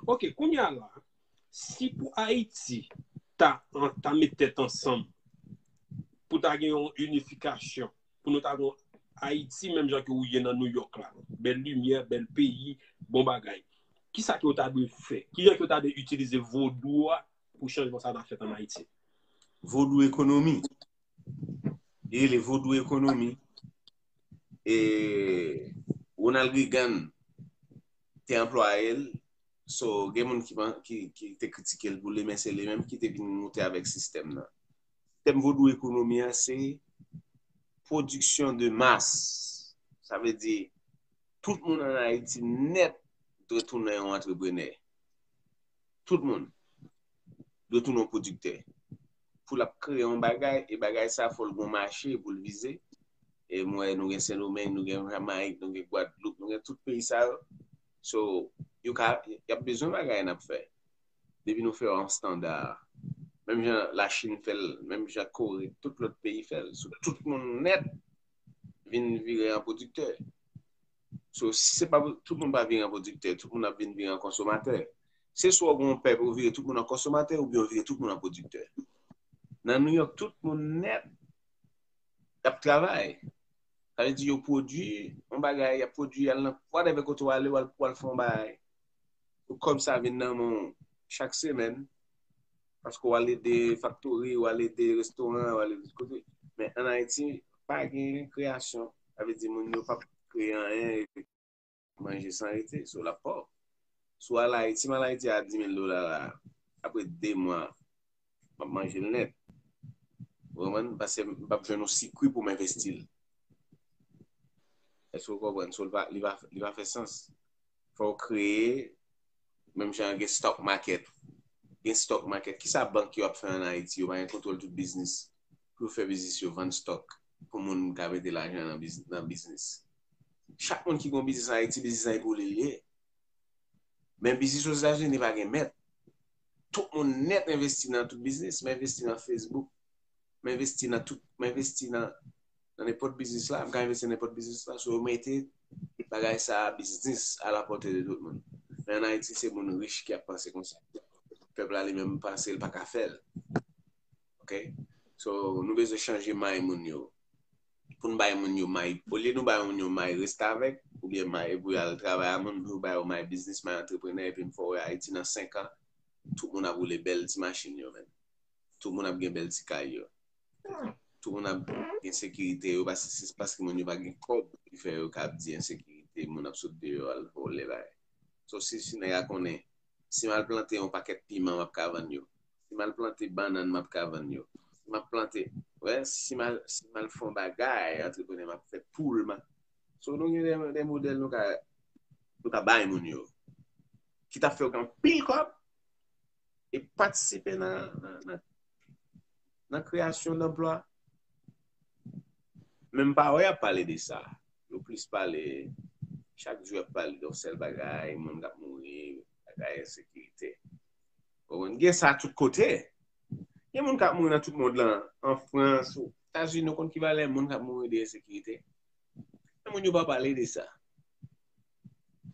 Ok, kounye a la, si pou Ayiti ta met tèt ansanm pou ta gen yon unifikasyon, pou nou ta gen yon Ayiti menm jan ki ou ye nan New York la, bèl limyè, bèl peyi, bon bagay, ki sa ki yo ta dwe fè? Ki jan ki yo ta dwe itilize vodou a pou chanjman sa ta fèt an Ayiti? Vodou ekonomi. Li rele vodou ekonomi. E Ronald Reagan te anplwaye l, so gen moun ki te kritike l pou li men se li menm ki te vin moute avèk sistèm nan. Sistèm vodou ekonomi an se pwodiksyon de mas. Sa vle di tout moun an Ayiti nèt dwe tounen yon antreprenè. Tout moun. dwe tounen yon pwodiktè. Pou l ap kreye yon bagay, e bagay sa a fò l gen yon mache pou l vize. E m wè nou gen Sendomeng, nou gen Jamayik, nou gen Gwadloup, nou gen tout peyi sa yo. So, yo ka, y ap bezwen bagay n ap fè. Depi nou fè yo an standa. Menm jan Lachin fè l, menm jan Kore, tout lòt peyi fè l. So, tout moun nèt vin vire an pwodiktè. So, si se pa, tout moun pa vire an pwodiktè, tout moun ap vin vire an konsomatè. Se swa ou gen yon pèp ou vire tout moun an konsomatè oubyen ou vire tout moun an pwodiktè. Nan New York, tout moun nèt ap travay. Sa vle di yo pwodui yon bagay, y ap pwodui al nan whatever kote w ale, w al fè yon bagay. pou kòb sa vin nan men w chak semèn, paske w al ede faktori, w al ede restoran, w al ede tout kote. Men an Ayiti, pa gen kreyasyon. Sa vle di moun yo pa p kreye anyen epi manje san rete. So l ap pòv. Si w al Ayiti, si m al Ayiti a 10 mil dola la, apre 2 mwa, Map manje l nèt. Ou konprann? Pase m pap jwenn yon sikwi pou m envesti l. Èske ou konprann? So li pa fè sans. Fò ou kreye, menm jan gen stock market. Gen stock market. Kisa bank yo ap fè an Ayiti? Yo pa gen kontwòl tout biznis. Pou yo fè biznis yo vann stock pou moun ka mete lajan nan biznis. Chak moun ki gen yon biznis an Ayiti, biznis lan epouli l ye. Men biznis Ozetazini pa gen mèt. tout moun nèt envesti nan tout biznis, m envesti nan Facebook, m envesti nan tout, m envesti nan nenpòt biznis la, m ka envesti nan nenpòt biznis la, so yo mete bagay sa a biznis a la pòte de tout moun. Men an Ayiti se moun rich ki ap panse konsa. Pèp la li menm panse l pa ka fè l. Ok? So nou bezwen chanje may moun yo. pou nou bay moun yo may, olye nou bay moun yo may restavèk, oubyen may pou yo al travay a moun, nou bay yo may biznis, may antreprenè, epi m fè w wè Ayiti nan 5 an, tout moun ap woule bèl ti machin yo menn. Tout moun ap gen bèl ti kay yo. Tout moun ap gen sekirite yo, paske se paske moun yo pa gen kòb ki fè yo ka ap di ensekirite, moun ap sot deyò al vòlè bagay. Sof si si nèg la konnen Si m al plante yon pakèt piman m ap ka vann yo. Si m al plante bannann m ap ka vann yo. Si m ap plante, wè, si m al, si m al fè yon bagay, antreprenè m ap fè poul m a. So nou gen de, de modèl nou ka, nou ka bay moun yo ki t ap fè yo gen anpil kòb e patisipe nan, nan, nan kreyasyon danplwa. Men m pa wè y ap pale de sa. Yo plis pale, chak jou y ap pale de yon sèl bagay, moun k ap mouri, bagay ensekirite. Konprann? Gen sa tout kote. Gen moun k ap mouri nan tout mond lan, an Frans, o Etazini, ou konn ki valè moun k ap mouri de ensekirite? Men moun yo pa pale de sa.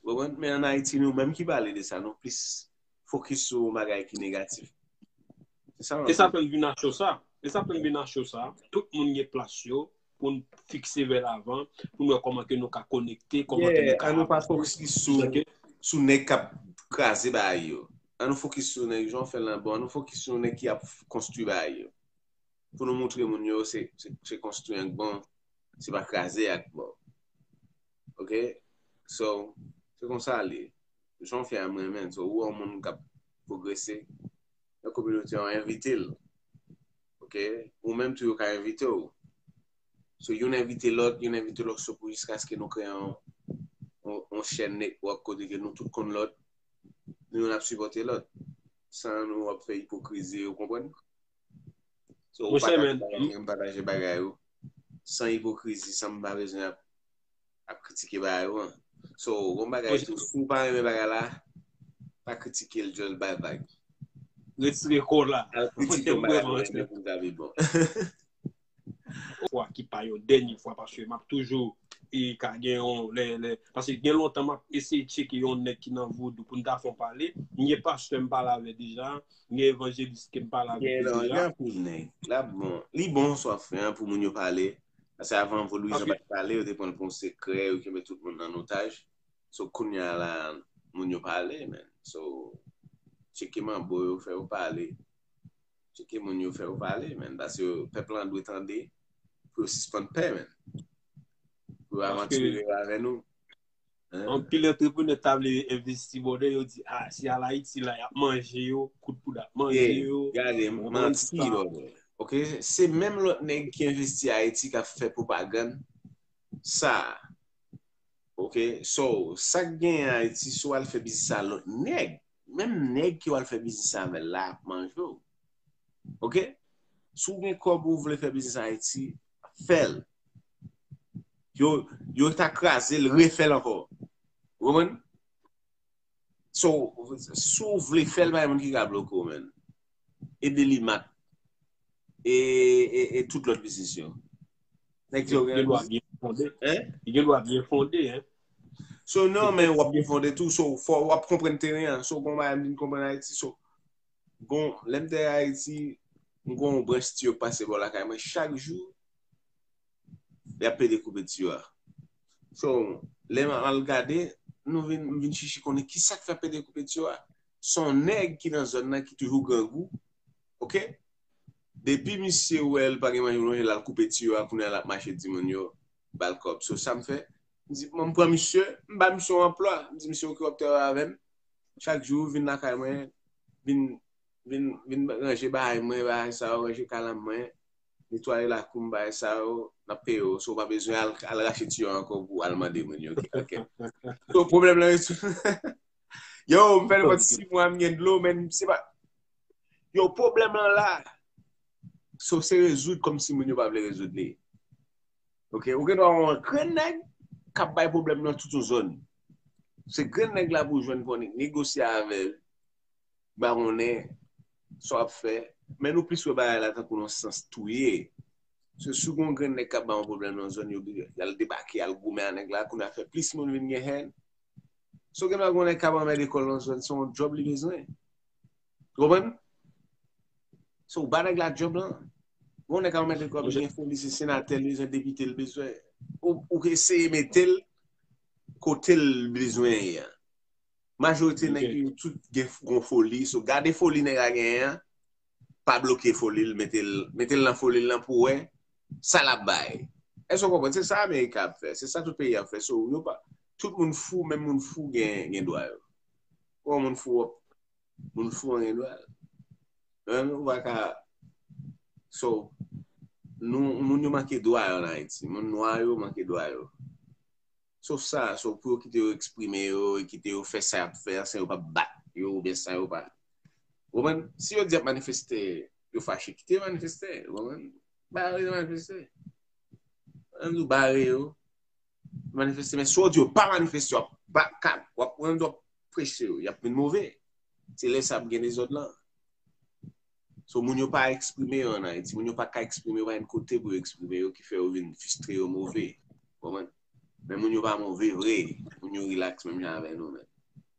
Ou konprann? Men an Ayiti nou menm ki pale de sa, nou plis. fokis sou yon bagay ki negatif. E sa fèm vin nan show sa. E sa fèm vin nan show sa. Tout moun gen plas yo pou n fikse vè lavan, pou n wè kòman ke nou ka konekte, kòman ke nou ka... An nou pa fokis sou nèg k ap kraze bagay yo. An nou fokis sou nèg, jan w fè l lan, bon an nou fokis sou nèg ki ap konstwi bagay yo. Pou nou moutre moun yo se konstwi an k bon, se pa kraze a k bon. Ok So se konsa li ye. Jan w fè a m renmen l. So ou wè yon moun k ap pwogrese nan kominote an envite l. Ok ou menm tou yo ka envite w. So youn envite lòt, youn envite lòt so pou jiskaske nou kreye yon chèn netwòk kote ke nou tout konn lòt. Nou youn ap sipòte lòt. San nou ap fè ipokrizi ou konprann. So ou pataje bagay mwen m pataje bagay ou san ipokrizi san m pa bezwen ap kritike bagay ou an. So ou kon bagay tou si ou pa renmen bagay la pa kritike l just bay vag. Retire kò w la. Al kritike yon bagay ou renmen pou l ta pi bon. fwa ki pa yon dènye fwa paske map toujou e ka gen yon lè lè paske gen lontan map eseye tcheke yon nèg ki nan vodou pou n ta fon pale m gen pastè m pale avè deja m gen evanjelis ke m pale avè deja gen lan gen anpil nèg la bon li bon sa w ap fè an pou moun yo pale paske avan vodouizan pa t pale yo te pran l pou yon sekrè yo kenbe tout moun an otaj so kounya la moun yo pale men so tcheke manbo yo fè yo pale Tcheke moun yo fè yo pale men. Paske pèp lan dwe tande pou yo sispann pè men. Pou yo avantire yo avè nou. Anpil entreprenè ta vle envesti bòdè yo di a si al Ayiti la yap manje yo, kout poud ap manje yo. E gade manti bòdè. Ok se menm lòt nèg ki envesti Ayiti kap fè pwopagann sa a. Ok so sak genyen Ayiti si w al fè biznis a lòt nèg menm nèg ki wal fè biznis avèl la ap manje w ok si w gen kòb ou vle fè biznis ayiti fèl yo yo ta kraze l refèl ankò ou konprann so si w vle fèl pa gen moun ki ka bloke w menn e delimat e e tout lòt biznis yo Nèg yo gen lwa byen fonde. Yo gen lwa byen fonde. So non men wap byen fonde tou. So wap konpren teren an. So bon bayan mwen konpren Ayiti. So bon lèm te Ayiti mwen kon yon branch tiyo pase bò lakay mwen chak jou. Yap ple de koupe tiyo a. So lèm al gade nou vin mwen vin chichi konnen ki sak fè ple de koupe tiyo a. Son nèg ki nan zòn nan ki toujou grangou. Ok. depi misye wè li pa gen manje pou lonje lal koupe tiyo a kounya lap mache di moun yo bal kòb so sam fè m di m pran misye m ba misye yon anplwa m di misye ok wap travay avèm chak jou vin lakay mwen vin vin vin ranje bagay mwen bagay sa yo ranje kalanm mwen netwaye lakoum bagay sa yo map peye w so ou pa bezwen al al rache tiyo a ankò pou al mande moun yo ok so pwoblèm lan yo yow m fè nepòt 6 mwa m gen dlo men se pa. Yo pwoblèm lan la. Sof se rezoud kòm si moun yo pa vle rezoud li. Ok, ou gen dwa wè yon grenn nèg kap bay pwoblèm nan tout yon zòn. Se grenn nèg la pou w jwenn pou negosye avè l, bawonnen, sa w ap fè. Men nou plis wè bagay la tankou yon sans touye. Se si w gen yon grenn nèg kap bay yon pwoblèm nan zòn, yo di al debake, al goumen ak nèg la, kounye a fè plis moun vin gen hèn. Si w gen dwa gen yon nèg kap anmède kò l nan zòn, se yon djòb li bezwen. Ou konprann? So, ou ba nèg la job lan. Bon nèg ka remèt kòb, gen foli se senatè l bezwen, depite l bezwen. Ou ka eseye mete l kote l bezwen ye a. Majorite nèg yo tout gen yon foli. So, gade foli nèg la genyen an, pa bloke foli l, mete l, mete l nan foli l lan pou wè sa l ap bay. Èske ou konprann? Se sa America ap fè. Se sa tout peyi ap fè. So, yo pa, tout moun fou, menm moun fou gen dwa yo. Bon moun fou wap moun fou anyen dwal. An nou va ka so nou moun yo manke dwa yo nan Ayiti. Moun nwa yo manke dwa yo. So sa so pou yo kite yo eksprime yo e kite yo fè sa yap fè san yo pa bat yo ou byen san yo pa. Ou konprann? Si yo di yap manifeste yo fache kite yo manifeste. Ou konprann? Bare yo manifeste. An nou bare yo. manifeste men si w di yo pa manifeste yo ap bat kal w ap pran dòk preche yo y ap vin move se lè sa ap gen dezòd lan sou moun yo pa eksprime yo an ayiti moun yo pa ka eksprime yo pa gen kote pou yo eksprime yo ki fè yo vin fistre yo move men moun yo pa move vre moun yo rilaks menm jan avè nou menm.